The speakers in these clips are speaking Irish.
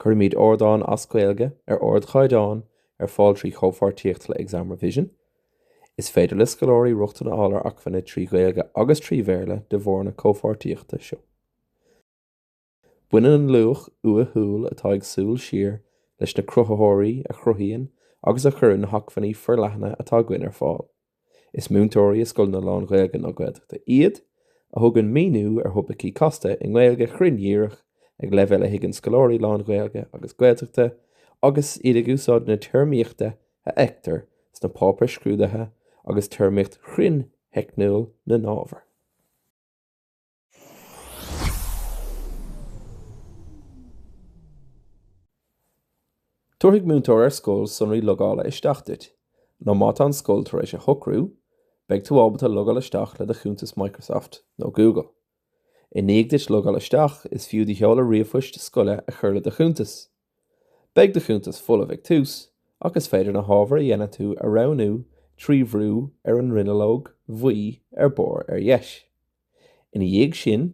Cuirimíd árdáin as Gaeilge ar ardchaighdeán ar fáil trí chomhpháirtíocht le Exam Revision. Is féidir le scoláirí rochtain a fháil ar acmhainní trí Ghaeilge agus trí Bhéarla de bharr na comhpháirtíochta seo. Baineann an luach uathúil atá ag Súil Siar leis na cruthaitheoirí a chruthaíonn agus a chuireann na hacmhainní forleathana atá againn ar fáil. Is múinteoirí i scoileanna lán-Ghaeilge nó Gaeltachta iad, a thugann míniú ar thopaicí casta i nGaeilge chruinn dhíreach ag leibhéal a thuigeann scoláirí lán-Ghaeilge agus Gaeltachta agus iad ag úsáid na téarmaíochta a fheictear sna páipéir scrúdaithe agus téarmaíocht chruinn theicniúil na n-ábhar. Tabharfaidh múinteoir ar scoil sonraí logála isteach duit, nó má tá an scoil tar éis a shocrú, beidh tú ábalta logáil isteach le do chuntas Microsoft nó Google. I ndiaidh duit logáil isteach, is fiú do sheoladh ríomhphoist scoile a chur le do chuntas. Beidh do chuntas folamh ag tús ach is féidir na hábhair a dhéanann tú a roghnú trí bhrú ar an ndronuilleog bhuí ar barr ar dheis. Ina dhiaidh sin,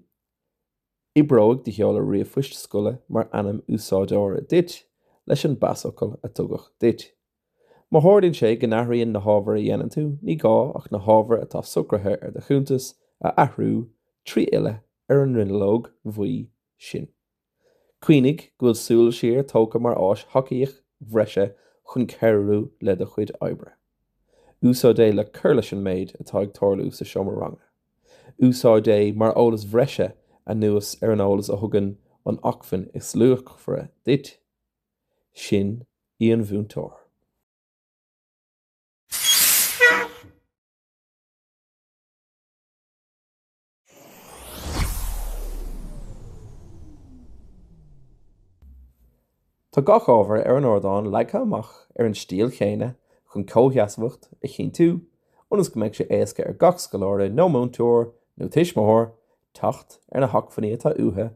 oibreoidh do sheoladh ríomhphoist scoile mar ainm úsáideora duit leis an bpasfhocal a tugadh duit. Má tharlaíonn sé go n-athraíonn na hábhair a dhéanann tú, ní gá ach na hábhair atá socraithe ar do chuntas a athrú trí fhilleadh ar an ndronuilleog bhuí sin. Cuimhnigh go bhfuil Súil Siar tógtha mar áis thacaíochta bhreise chun cabhrú le do chuid oibre. Úsáid é le cur leis an méid atá ag tarlú sa seomra ranga. Úsáid é mar eolas bhreise anuas ar an eolas a thugann an acmhainn is luachmhaire duit, sin í an múinteoir. Tá gach ábhar ar an ardán leagtha amach ar an stíl chéanna chun comhsheasmhacht a chinntiú ionas go mbeidh sé éasca ar gach scoláire nó múinteoir nó tuismitheoir teacht ar na hacmhainní atá uathu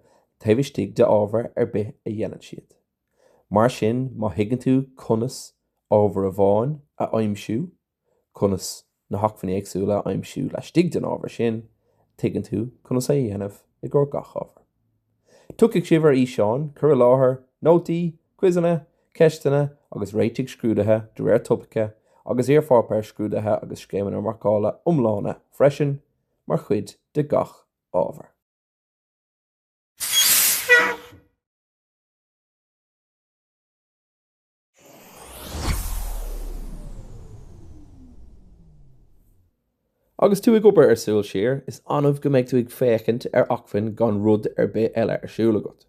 taobh istigh de ábhar ar bith a dhéanann siad. Mar sin má thuigeann tú conas ábhar amháin a aimsiú, conas na hacmhainní éagsúla a aimsiú laistigh den ábhar sin, tuigeann tú conas a dhéanamh i gcomhair gach ábhair. Tiocfaidh sibh ar fhíseáin, cur i láthair, nótaí, cuiseanna, ceisteanna agus réitigh scrúdaithe de réir topaice agus iarpháipéir scrúdaithe agus scéimeanna marcála iomlána freisin mar chuid de gach ábhar. Agus tú ag obair ar Súil Siar, is annamh go mbeidh tú ag féachaint ar acmhainn gan rud ar bith eile ar siúl agat.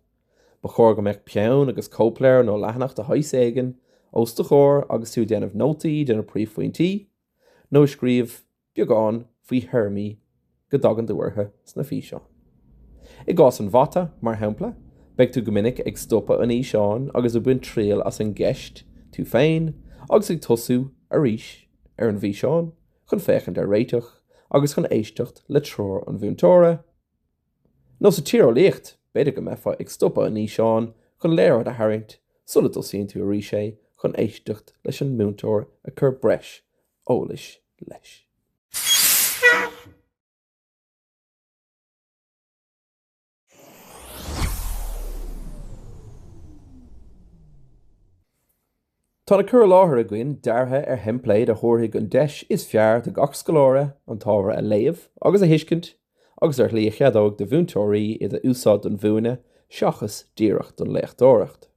Ba chóir go mbeadh peann agus cóipleabhar nó leathanach de shaghas éigin os do chomhair agus tú ag déanamh nótaí de na príomhphointí, nó ag scríobh beagán faoi théarmaí go dtagann tú orthu sna físeáin. I gcás an Mhata, mar shampla, beidh tú go minic ag stopadh an fhíseáin agus ag baint triail as an gceist tú féin agus ag tosú arís ar an bhfíseán chun féachaint ar réiteach agus chun éisteacht le treoir an mhúinteora. Nó sa Tíreolaíocht, b'fhéidir go mbeifeá ag stopadh an fhíseáin chun léaráid a tharraingt sula dtosaíonn tú arís é chun éisteacht leis an múinteoir ag cur breis eolais leis. Tá na cur i láthair againn deartha ar theimpléad a thabharfaidh an deis is fearr do gach scoláire an t-ábhar a léamh agus a thuiscint agus ar shlí a cheadóidh do mhúinteoirí iad a úsáid don mhúineadh seachas díreach don léachtóireacht.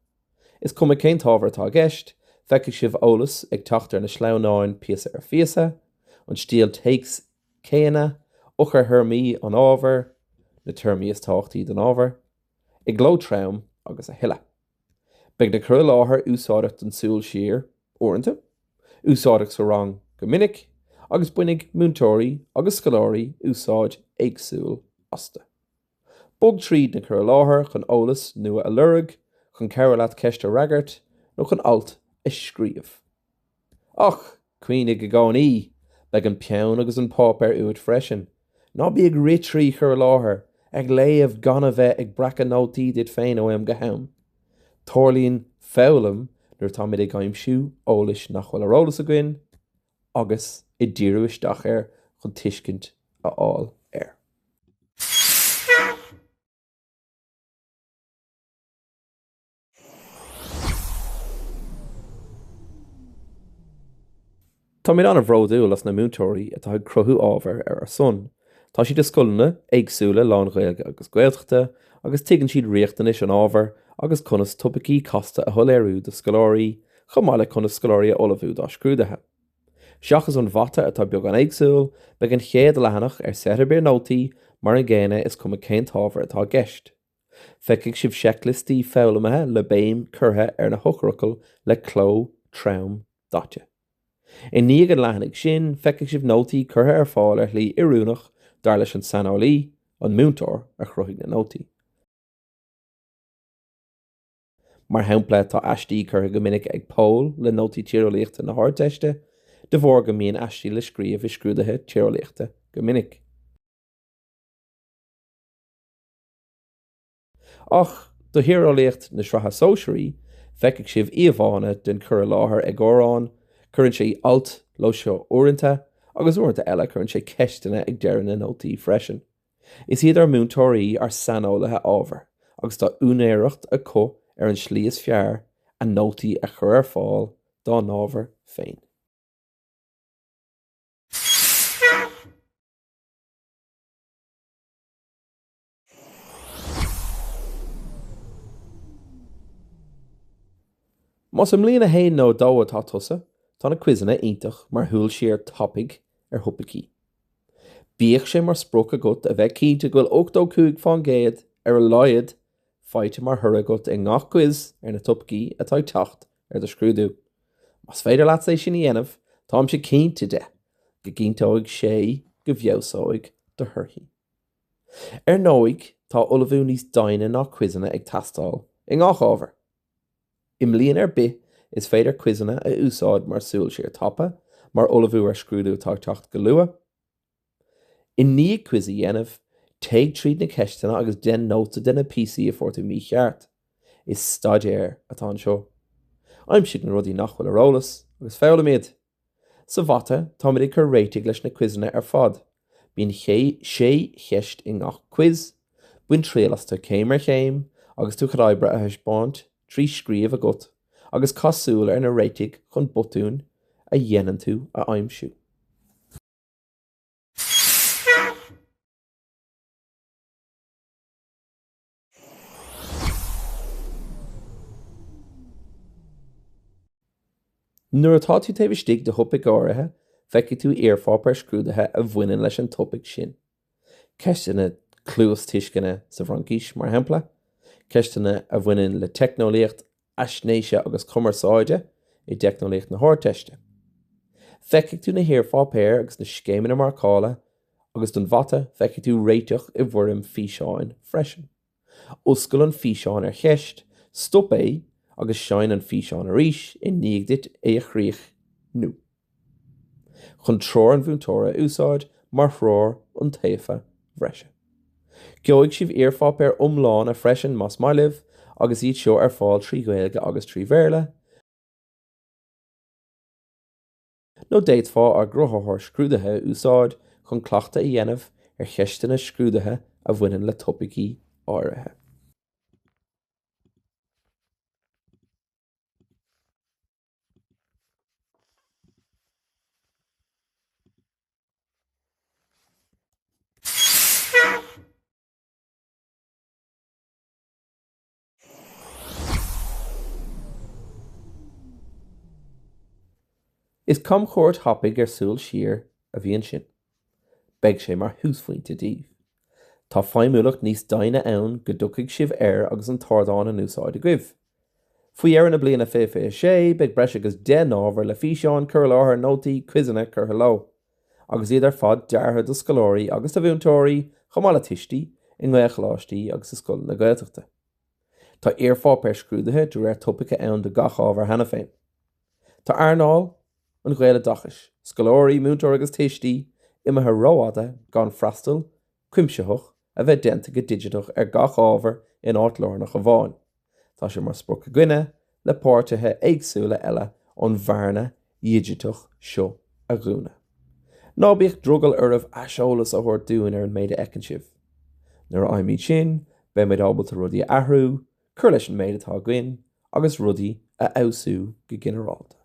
Is cuma cén t-ábhar atá i gceist, feicfidh sibh eolas ag teacht ar na sleamhnáin píosa ar phíosa, an stíl téacs céanna, eochairthéarmaí an ábhair, na téarmaí is tábhachtaí don ábhar, i gcló trom agus a thuilleadh. Beidh na cur i láthair úsáideach don súil siar, uaireanta, úsáideach sa rang go minic, agus bainfidh múinteoirí agus scoláirí úsáid éagsúil astu. Bog tríd na cuir i láthair chun eolas nua a lorg, chun cabhrú leat ceist a fhreagairt, nó chun alt a scríobh. Ach cuimhnigh i gcónaí, beidh an peann agus an páipéar uait freisin. Ná bí ag rith trí chuir i láthair, ag léamh gan a bheith ag breacadh nótaí duit féin ó am go ham. Tarlaíonn foghlaim nuair atáimid ag aimsiú eolais nach bhfuil ar eolas againn, agus ag díriú isteach air chun tuiscint a fháil air. Táimid an-bhródúil as na múinteoirí atá ag cruthú ábhair ar ár son. Tá siad i scoileanna éagsúla lán-Ghaeilge agus Gaeltachta agus tuigeann siad riachtanais an ábhair agus conas topaicí casta a shoiléiriú do scoláirí chomh maith le conas scoláirí a ullmhú dá scrúduithe. Seachas an mhata atá beagán éagsúil, beidh an chéad leathanach ar sraith ar bith nótaí mar an gcéanna is cuma cén t-ábhar atá i gceist. Feicfidh sibh seicliostaí foghlamaithe le béim curtha ar na heochairfhocail le cló trom daite. I ndiaidh an leathanaigh sin feicfidh sibh nótaí curtha ar fáil ar shlí oiriúnach dar leis an saineolaí, an múinteoir, a chruthaigh na nótaí. Mar shampla tá aistí curtha go minic ag Pól le nótaí tíreolaíochta na hArdteiste de bharr go mbíonn aistí le scríobh i scrúduithe tíreolaíochta go minic. Ach do thíreolaíocht na Sraithe Sóisearaí, feicfidh sibh íomhánna den chuid is mó curtha i láthair ag Odhrán, cuireann sé alt leo seo uaireanta, agus uaireanta eile cuireann sé ceisteanna ag deireadh na nótaí freisin. Is iad ár múinteoirí ár saineolaithe ábhair agus tá úinéireacht acu ar an slí is fearr a nótaí a chur ar fáil dá n-ábhair féin. Más i mbliain a haon nó a dó atá tusa, tá na quizeanna iontach mar shúil siar tapaidh ar thopaicí. Bíodh sé mar sprioc agat a bheith cinnte go bhfuil ochtó cúig faoin gcéad, ar a laghad, faighte mar thoradh agat i ngach quiz ar na topaicí atá ag teacht ar do scrúdú. Más féidir leatsa é sin a dhéanamh, táimse cinnte de go gcinnteoidh sé go bhfeabhsóidh do thorthaí. Ar ndóigh tá ullmhú níos doimhne ná quizeanna ag teastáil i ngach ábhar. I mbliain ar bith is féidir quizeanna a úsáid mar súil siar tapa, mar ullmhú ar scrúdú atá ag teacht go luath. I ndiaidh quiz a dhéanamh, téigh tríd na ceisteanna agus dein nóta de na píosaí a fuair tú mícheart. Is staidéar atá anseo. Aimsigh na rudaí nach bhfuil ar eolas agus foghlaim iad. Sa mhata, táimid ag cur réitigh leis na quizeanna ar fad. Bíonn sé cheist i ngach quiz, bain triail astu céim ar chéim agus tú chun oibre a thaispeáint trí scríobh agat agus caith súil ar na réitigh chun botúin a dhéanann tú a aimsiú. Nuair atá tú taobh istigh de thopaic áirithe, feicfidh tú iarpháipéir scrúdaithe a bhaineann leis an topaic sin. Ceisteanna cluastuisceana sa bhFraincís, mar shampla, ceisteanna a bhaineann le teicneolaíocht Faisnéise agus Cumarsáide i dTeicneolaíocht na hArdteiste. Feicfidh tú na hiarpháipéir agus na scéimeanna marcála agus don Mhata feicfidh tú réiteach i bhfoirm físeáin freisin. Oscail an físeán ar cheist, stop é agus seinn an físeán arís i ndiaidh duit é a chríochnú. chun treoir an mhúinteora a úsáid mar threoir iontaofa bhreise. Gheobhaidh sibh iarpháipéir iomlána freisin más maith libh agus iad seo ar fáil trí Ghaeilge agus trí Bhéarla, nó d'fhéadfá ár gcruthaitheoir scrúdaithe a úsáid chun cleachtadh a dhéanamh ar cheisteanna scrúdaithe a bhaineann le topaicí áirithe. Is camchuairt thapaidh nó súil siar a bhí ansin. Beidh sé mar thúsphointe daoibh. Tá feidhmiúlacht níos doimhne ann go dtiocfaidh sibh air agus an t-ardán in úsáid agaibh. Faoi dheireadh na bliana 2026 beidh breis agus deich n-ábhar le físeáin, cur i láthair, nótaí, quizeanna curtha leo. Agus iad ar fad deartha do scoláirí agus do mhúinteoirí, chomh maith le tuistí, i nGaelcholáistí agus i scoileanna Gaeltachta. Tá iarpháipéir scrúdaithe de réir topaice ann do gach ábhar cheana féin. Tá earnáil an Ghaeloideachais, scoláirí, múinteoirí agus tuistí, imithe rófhada gan freastal cuimsitheach a bheith déanta go digiteach ar gach ábhar in áit lárnach amháin. Tá sé mar sprioc againne le páirtithe éagsúla eile an bhearna dhigiteach seo a dhúnadh. Ná bíodh drogall oraibh aiseolas a thabhairt dúinn ar an méid a fheiceann sibh. Nuair a fhaighimid sin, beimid ábalta rudaí a athrú, cur leis an méid atá againn agus rudaí a fheabhsú go ginearálta.